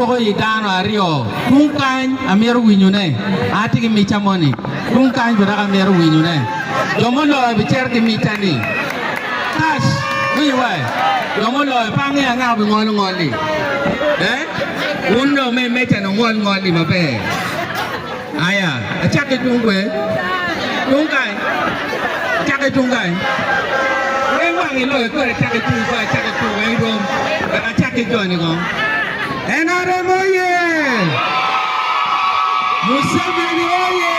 Poko i dano aryo tung kany amito winyone, atye ki micca moni tung kany pi dok amito winyone. Jo muloyo bicito ki micca ni. Kac, winyo wa, jo muloyo pe angeyo angaka bingolo ngolli. Eh? Wun jo me meccani wungol ngolli maber. Aya, acak ki tung kwer, tung kany, acak ki tung kany. Weng wang iloyo kore acak ki tung kwer, acak ki tung weng rom. Wek acak ki joni kong. NRM oye! Museveni oye!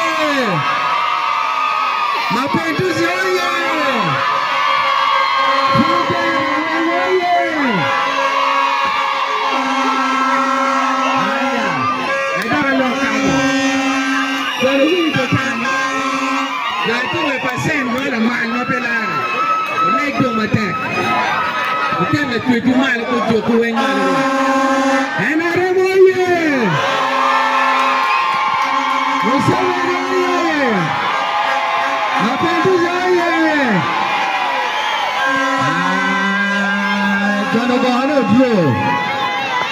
Mapenduzi oye! President Raweng oye! Aya! Adoko lok kamo kwene wii tutang ma gaa kome pa cent mo lamal ma pe lare oleg jo matek oket lacwecwu malo ki ojokwu weng malo rwot NRM oye Museveni oye Apendis oye Aa John Ogohane odro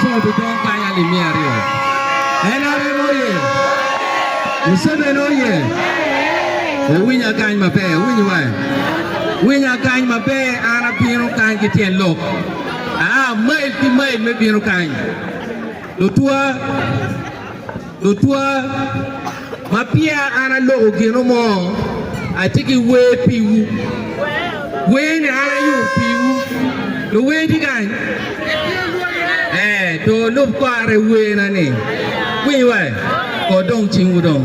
Cobi dong kany ali miya aryo. NRM oye! Museveni oye! Wuwinya kany maber, wuwiny wa. Winya kany maber, an abino kany ki tyen lok. Aa mail ki mail me bino kany. Lutwa Lutwa, ma peya an aloko gino mo, atye ki wer piwu. Werni an ayubo piwu. Luwer tye kany? Ee, to lub kore werna-ni. Winyo wa, kodong cingwu dong.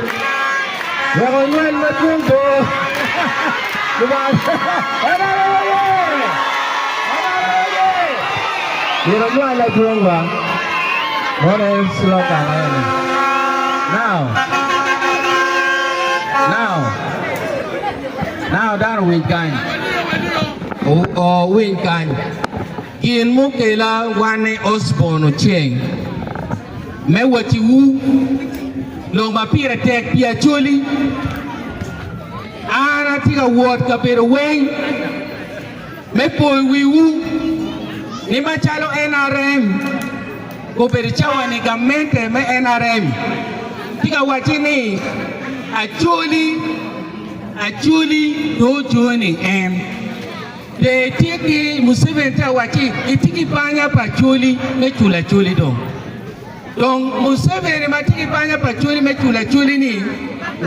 Wek onywel madwong bo. Myero onywal adwong wa. Mono en slogan eni. Now. Now. Now dano winj kany. Owinj kany. Gin mukela wan i Osborn Oceng me wacciwu lok ma pire tek pi Acholi. An atye ka wot kabedo weng me poyo wiwu ni macalo nrm obedo cawa ni gamente me nrm tye ka wacci ni Acholi Acholi dong ojoni en. Pye itye ki Museveni ci awacci itye ki banya pa Acholi me culo Acholi dong. Dong Museveni ma tye ki banya pa Acholi me culo Acholi ni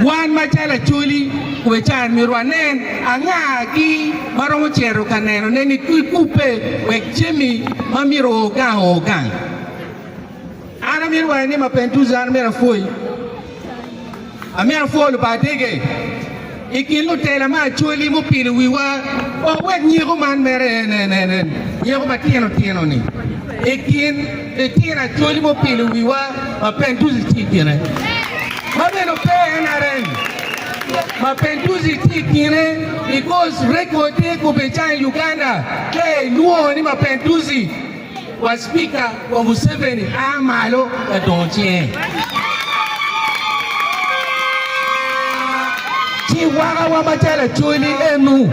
wan macalo Acholi we ca myero wanen anga gi ma romo cito ka nenone ni kikubbe wek jami ma myero o gang o gang. An amito wange ni ma peny ducu an amito apwoyi, amito apwo Lubadige i kin lutela me Acholi mupilo wiwa wek wek nyeko man mere en en en en nyeko matino tino ni i kin litino Acholi mupilo wiwa ma peny ducu tye i kine ma bene pe NRM ma peny ducu tye i kine because record-de kobecang i Uganda ka ilwongo ni ma peny ducu Wa Spika wa Museveni a malo ka dongo cinge, ci waka wa macalo Acholi enu,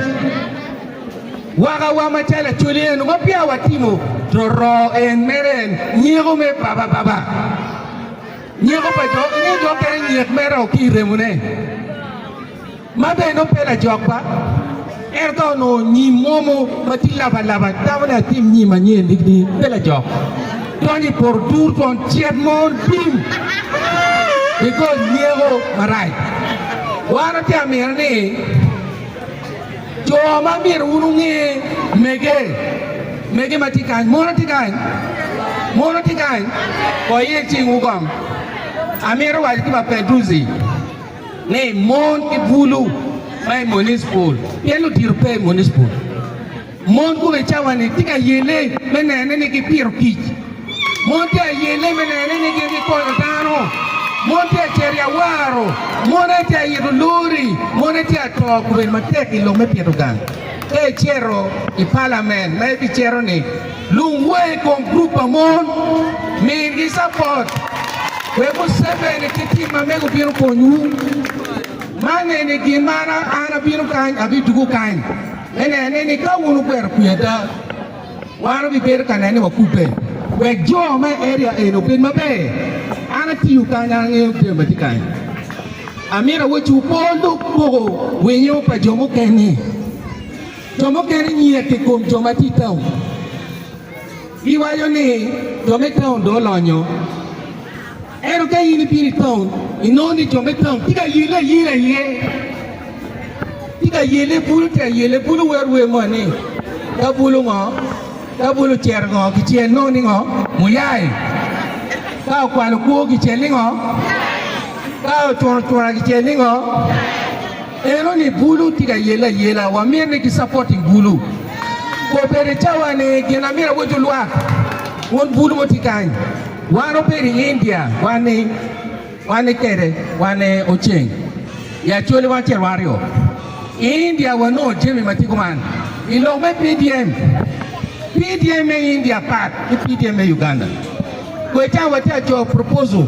waka wa macalo Acholi enu ma peya wa timo roroo en mere en nyeko me baba baba, nyeko pa jo, inge jo mukene nyek mere o ki iremo ne. ma bene nongo pe lajokwa, en ka onongo nyim momo ma tye labalaba tamo ni atim nyim anyen ni ni pe lajok, donyo i poto tur twon cet mo tim bigol nyeko marac. Wan watye ka mino ni jo ma myero wun wunge mege, mege ma tye kany, mono tye kany? Mono tye kany? Wayel cingwu kong. Amito waco ki ba Pedrusi. ni mon ki bulu ma i municipal pien lutito pe i municipal. Mon kome i cawa-ni tye ka yelle me nene ni gipito kic, mon tye ka yelle me nene ni gin gikonyo dano, mon tye ka cito i awaro, mon aye tye ka ito lori, mon aye tye ka to kome matek i lok me pito gang. Ka icito i palamen ma ibicito-ni, Lungwe i kom gurup pa mon, migi capot wek Museveni ki tim ma mege obino konywu. Man eni gin ma an abino kany, abidugo kany me nene ni ka wun wugwero kwi ada, wan wabibedo ka nene ni wakubbe wek jo me area eni obed maber. An atiyo kany, an angeyo jami ma tye kany. Amito awacciwu, pe wulub poko winyo pa jo mukene. Jo mukene nyiye ki kom jo ma tye i taun. Giwaco ni jo me taun dong olonyo. Ento ka in ibino i taun, inongo ni jo me taun tye ka yelle ayela iye, tye ka yelle bulu, tye ka yelle bulu, wero wer mo ni ka bulu ngo, ka bulu ocero ngo kicel nongo ni ngo, muyai. Ka okwalo kwo kicel ni ngo, ka ocwuno cwuna kicel ni ngo. Eno ni bulu tye ka yelle ayela wa myero ni ki supporting bulu obedo i cawa ni gin amyero awoc olwak wun bulu mo tye kany wan obedo i India wan ni wan ni kede wan ni oceng i acholi wan ce rwaryo i India wa nongo jemi ma tye kuman i lok me PDM PDM me India pat ki PDM me Uganda kwe cawa wa tye aco proposal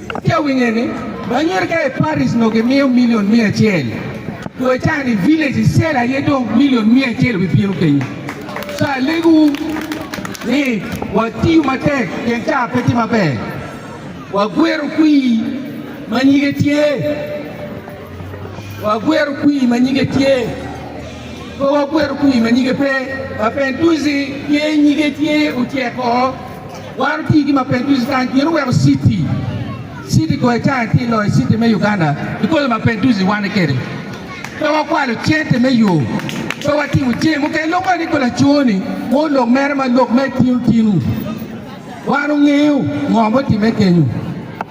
Atye ka winye ni Anyirika i Paris nongo gimiyo million miya acel, dong acayo ni village i cell aye dong million miya acel wi bino kenyo. So alego wu ni watiyu matek pien car pe tye maber. Wagwero kwii ma nyige tye, wagwero kwii ma nyige tye, pe wagwero kwii ma nyige pe. Mapenduzi tye nyige tye otyeko. Waro tye gi mapeny ducu kany pien oweko citi citi goyo caya tye loyo citi me Uganda i kole mapeny ducu wane kede pe wakwalo cente me yo pe watimo jemi mukene lok eni ko lacoo ni wor lok mere ma lok me tinu tinu wan ongeyo ngo mutimme kenyu.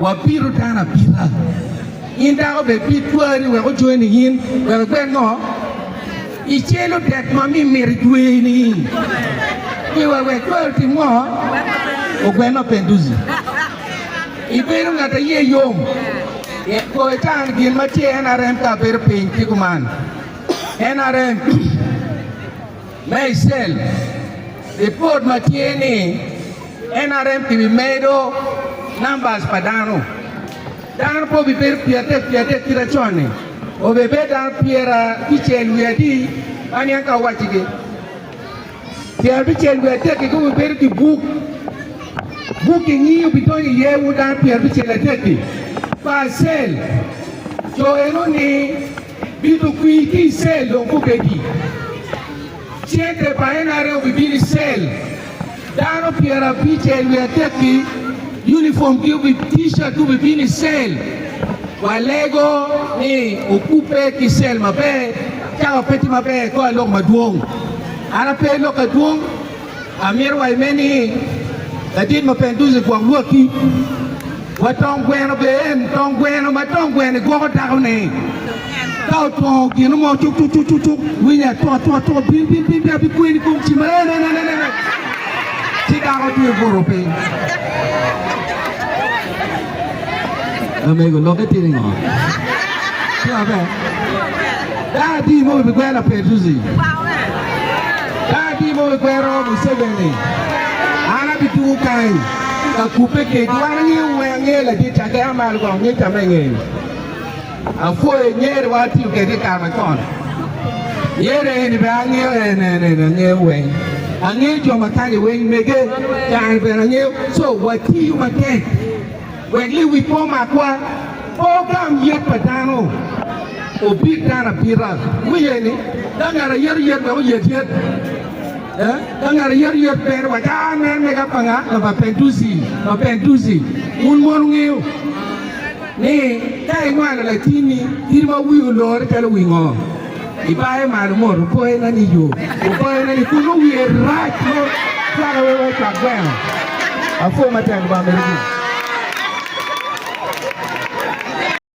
Wabito dano abita. In dako bed ki twari wek ocoe nining? Wek ibed ngo? Icelo det ma mi mito itweye nining? Iwero wek twari otim ngo? Ogwen ma pe ducu. Ibedo ngat a iye yom. Ko ita ni gin ma tye i NRM ka abedo piny ki kuman. NRM. Me i cell, lipot ma tye ni NRM ki bi medo numbers pa dano. Dano pe obi bedo pyer adek pyer adek kita con-ni, obi bedo dano pyer abicel wiye adi ma niang ka wacci gi. Pyer abicel wiye adek-ki dong bedo ki buk, buk ki nyi obi donyo iye wun dano pyer abicel adek-ki pa cell. Co eno ni Bito kwir ki i cell dong gubedi. Cente pa NRA obibino i cell. Dano pyerabic i wi adek-ki, unifom ki obi T-shirt gubibino i cell. Walego ni okubbe ki cell maber, cawa pe tye maber, kor lok madwong. An ape lok adwong. Amito waci me ni, ladit ma pe ducu gwok lwakki, wa tong gweno bene en tong gweno ma tong gweno gwoko dako ne ka otwongo gino mo tuk tuk tuk tuk tuk winyo atuk atuk atuk bin bin bin bin abi kweni kong ci ma en en en en en ci dako tye buto piny Amego lokke tye ni ngo? Tye maber. Dano adi mo bi kwero Lapetusi? Dano adi mo bi kwero Museveni? An abitungo kany ka kubbe kec. Wan angeyo wer angeyo ladit cakke a malo kong ngeca me ngeye. Apwoyo nyer wa atiyo kede ikar macon nyer eni bene angeyo en en en angeyo weng angeyo jo makani weng mege kare bene angeyo co watiyo matek wek liwic pe omakwa pe ogam yet pa dano obit dano abita wiye ni ka ngat ayeto yet wek oyet yet ka ngat ayeto yet bene waco a en mega panga ma bapentuci bapentuci wun mon wungeyo. Ni, Ka inywalo latinni, in ma wii olore calo wi ngo, ibaye malo mot, oboye na ni yo, oboye na ni kulu, wiye rac mo cwaka wek wai cwak gweno. Apwo matek Lubanga medo gudo.